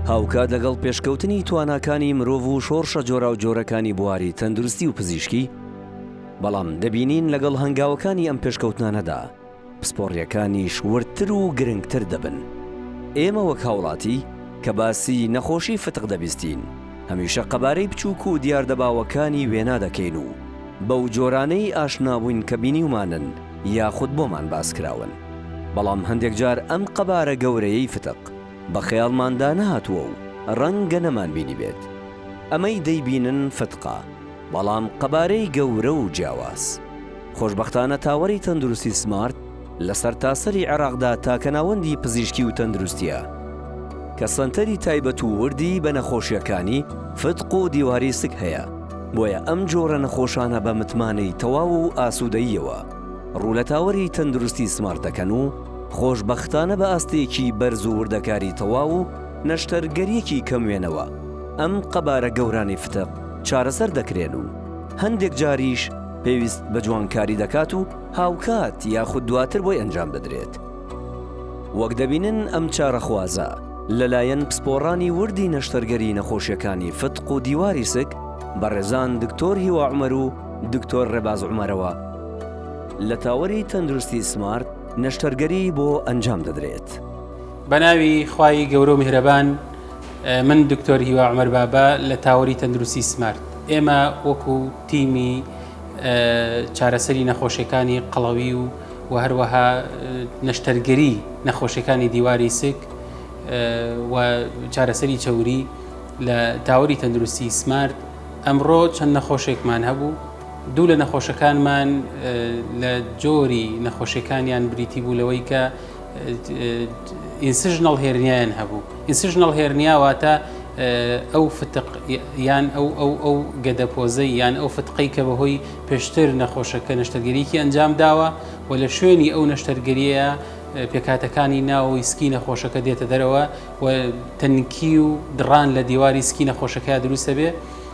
هاوکات لەگەڵ پێشکەوتنی تواناکانی مرۆڤ و شۆڕشە جۆرا و جۆرەکانی بواری تەندروستی و پزیشکی بەڵام دەبینین لەگەڵ هەنگاوەکانی ئەم پێشکەوتنانەدا پسپۆڕییەکانیش وردتر و گرنگتر دەبن. ئێمە وەک هاوڵاتی کە باسی نەخۆشی فتق دەبیستین، هەمیشە قەبارەی بچووک و دیاردە باوەکانی وێنا دەکەین و بەو جۆرانەی ئاشنابووین کە بینیومانن یاخود بۆمان باس کراون. بەڵام هەندێک جار ئەم قەبارە گەورەیەی فتق بە خەیاڵماندا نەهاتووە و ڕەنگە نەمانبینیبێت. ئەمەی دەیبینن فتقە. بەڵام قەبارەی گەورە و جیاواز. خۆشبەختانە تاوەری تەندروستی سمارت لە سەرتاسەری عێراقدا تاکە ناوەندی پزیشکی و تەندروستییە کە سەنتەری تایبەت و وردی بە نەخۆشییەکانی فتق و دیواری سک هەیە، بۆیە ئەم جۆرە نەخۆشانە بە متمانەی تەواو و ئاسوودەییەوە ڕوو لە تاوەری تەندروستی سمارت دەکەن و خۆشبەختانە بە ئاستێکی بەرز و وردەکاری تەواو و نەشتەرگەریی کەم وێنەوە، ئەم قەبارە گەورانەی فتق چارەسەر دەکرێن و هەندێک جاریش پێویست بە جوانکاری دەکات و هاوکات یاخود دواتر بۆی ئەنجام دەدرێت. وەک دەبینن ئەم چارەخوازە لەلایەن پسپۆڕانی وردی نەشتەرگەریی نەخۆشیەکانی فتق و دیواری سک بەڕێزان دکتۆر هیوا عومەر و دکتۆر ڕێباز عومەرەوە لە تاوەری تەندروستی سمارت نەشتەرگەریی بۆ ئەنجام دەدرێت. بەناوی خوای گەورە و میهرەبان من دکتۆر هیوا عمر بابا لە تاوەری تەندروستی سمارت ئێمە وەکو تیمی چارەسەری نەخۆشیەکانی قەڵەوی و و هەروەها نەشتەرگەری نەخۆشیەکانی دیواری سک و چارەسەری چەوری لە تاوەری تەندروستی سمارت ئەمڕۆ چەند نەخۆشێکمان هەبوو دوو لە نەخۆشەکانمان لە جۆری نەخۆشیەکانیان بریتی بوو لەوەی کە ئینسژنەڵ هێرنیایان هەبوو ئینسژنەڵ هێرنیا واتە ئەو فتق یان ئەو ئەو ئەو گەدەپۆزەی یان ئەو فتقەی کە بەهۆی پێشتر نەخۆشەکە نەشتەرگەریکی ئەنجام داوە و لە شوێنی ئەو نەشتەرگەریە پێکاتەکانی ناوەوەی سکی نەخۆشەکە دێتە دەرەوە و تەنکی و دڕان لە دیواری سکی نەخۆشەکە دروستە بێ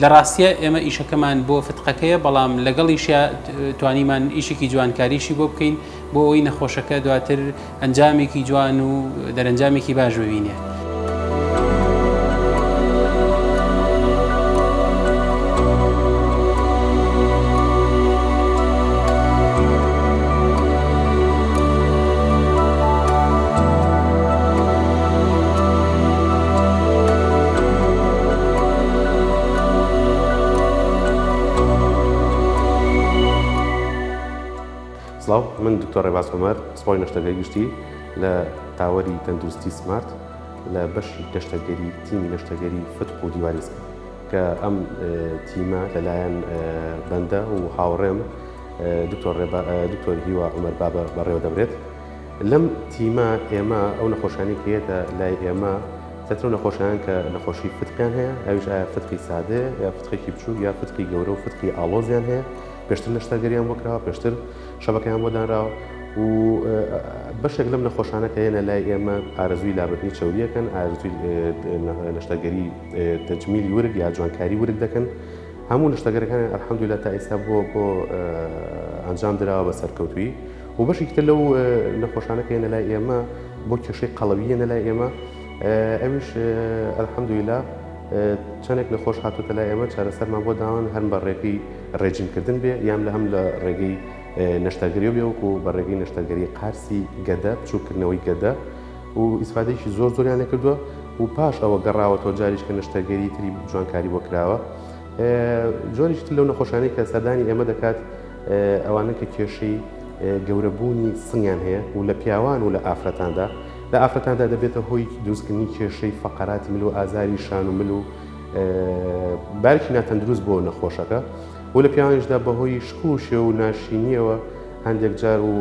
لە ڕاستیا ئێمە ئیشەکەمان بۆ فتقەکەیە بەڵام لەگەڵیشە توانیمان ئیشێکی جوانکاریشی بۆ بکەین بۆ ئەوی نەخۆشەکە دواتر ئەنجامێکی جوان و دەرەنجامێکی باش ببینێ. سڵاو من دکتۆر ڕێباز عومەر سپای نەشتەگەری گشتی لە تاوەری تەندروستی سمارت لە بەشی گەشتەگەری تیمی نەشتەگەری فتق و دیواریزم کە ئەم تیمە لەلایەن بەندە و هاوڕێم دکتۆر ڕێبا دکتۆر هیوا عومەر بابە بەڕێوە دەبرێت لەم تیمە ئێمە ئەو نەخۆشانی کە یەتە لای ئێمە تەترو نەخۆشیان کە نەخۆشی فتقیان هەیە ئەوش ئایا فتقی سادێ یا فتقێکی بچوو یا فتقی گەورە و فتقی ئالۆزیان هەیە پێشتر نەشتەرگەریان بۆکراوە پێشتر شەبەکەیان بۆ دانراوە و بەشێک لەم نەخۆشانە کە هێنە لای ئێمە ئارزووی لابردنی چوریەکەن ئارزوی نەشتەگەری تەجمیلی ورگ یا جوانکاری ورگ دەکەن هەموو نشتەگەرەکان ئەحمدولا تا ئێستا بۆ بۆ ئەنجام درراوە بە سەرکەوتوی بۆ بەشێکی تر لەو نەخۆشانە کە یەنە لای ئێمە بۆ کێشەی قەڵەوی یەنە لای ئێمە ئەویش ئەلحەمدویلا چەندێک نەخۆش هاتوتە لای ئێمە چارەسەرمان بۆ داوان هەم بە ڕێگەی ڕێجیمکردن بێ یان لە هەم لە ڕێگەی نەشتەرگەری و بێوەکو و بە ڕێگەی نەشتەرگەری قارسی گەدە بچووکردنەوەی گەدە و ئیسفادێکی زۆر زۆریان لەکردووە و پاش ئەوە گەڕاوەتەوە جاریش کە نەشتەرگەری تری جوانکاری بۆ کراوە جۆریش لەو نەخۆشانەی کە سەردانی ئێمە دەکات ئەوانە کە کێشەی گەورە بوونی سنگیان هەیە و لە پیاوان و لە ئافرەتاندا لە ئافرەتاندا دەبێتە هۆی دروستکردنی کێشەی فەقەراتی مل و ئازاری شان و مل و بارکی ناتەندروست بۆ نەخۆشەکە و لە پیاوانیشدا بەهۆی شکوشێ و ناشینیەوە هەندێک جار و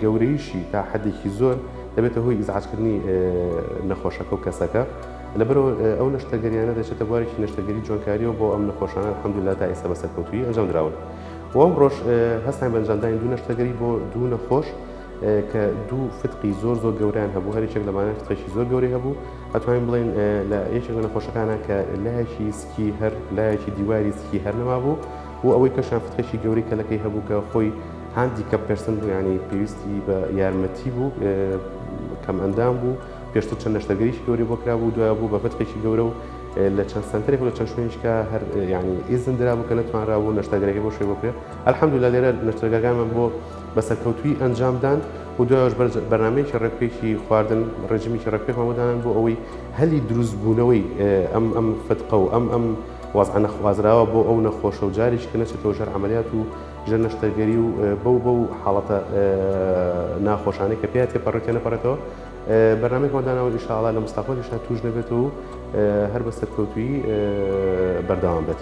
گەورەیشی تا حەدێکی زۆر دەبێتە هۆی ئیزعاجکردنی نەخۆشەکە و کەسەکە لەبەرەوە ئەو نەشتەگەریانە دەچێتە بوارێکی نەشتەگەری جوانکاریەوە بۆ ئەم نەخۆشانە حەمدولا تا ئێستا بە سەرکەوتوی ئەنجام دراون. بۆ ئەم ڕۆژ هەستان بەنجامدانی دوو نەشتەگەری بۆ دوو نەخۆش کە دوو فتقی زۆر زۆر گەوریان هەبوو هەرچێک لەمانە فتقێکی زۆر گەوری هەبوو ئەتوانین بڵێن لە یەکێک لە نەخۆشەکانە کە لایەکی سکی هەر لایەکی دیواری سکی هەر نەما بوو و ئەوەی کەشان فتقێکی گەوری کەلەکەی هەبوو کە خۆی هاندی کەپ پرسن بوو ینی پێویستی بە یارمەتی بوو کەم ئەندام بوو پێشتر چەند نەشتەرگەریی گەورەی بۆ کرابوو و دوایە بوو بە ڤتقێکی گەورە و لە چەند سەنتەرێک و لە چەند شوێنیشکا هەر یانی ئیزن درابوو کە نەتوانرابوو نەشتەرگەرەکەی بۆ شوێ بۆ کرێ الحمدللە لێرە نەشتەرگاکانمان بۆ بە سەرکەوتوویی ئەنجام دان و دوایەش بەرنامەیەکی ڕێکوپێکی خواردن ڕێژیمێکی ڕێکوپێکمان بۆ دانان بۆ ئەوەی هەلی دروستبوونەوەی ئەم ئەم فتقە و ئەم ئەم وەزعە نەخوازراوە بۆ ئەو نەخۆشە و جاریش کە نەچێتەوە ژەر عەمەلیات و ژەر نەشتەرگەری و بەو بەو حاڵەتە ناخۆشانەی کە پێیا تێپەڕێت تێنەپەڕێتەوە. بەرنامەیەکمان داناوە ئیشاڵا لە مستەقبەلیشا توش نەبێت و هەر بە سەرکەوتوی بەردەوام بێت.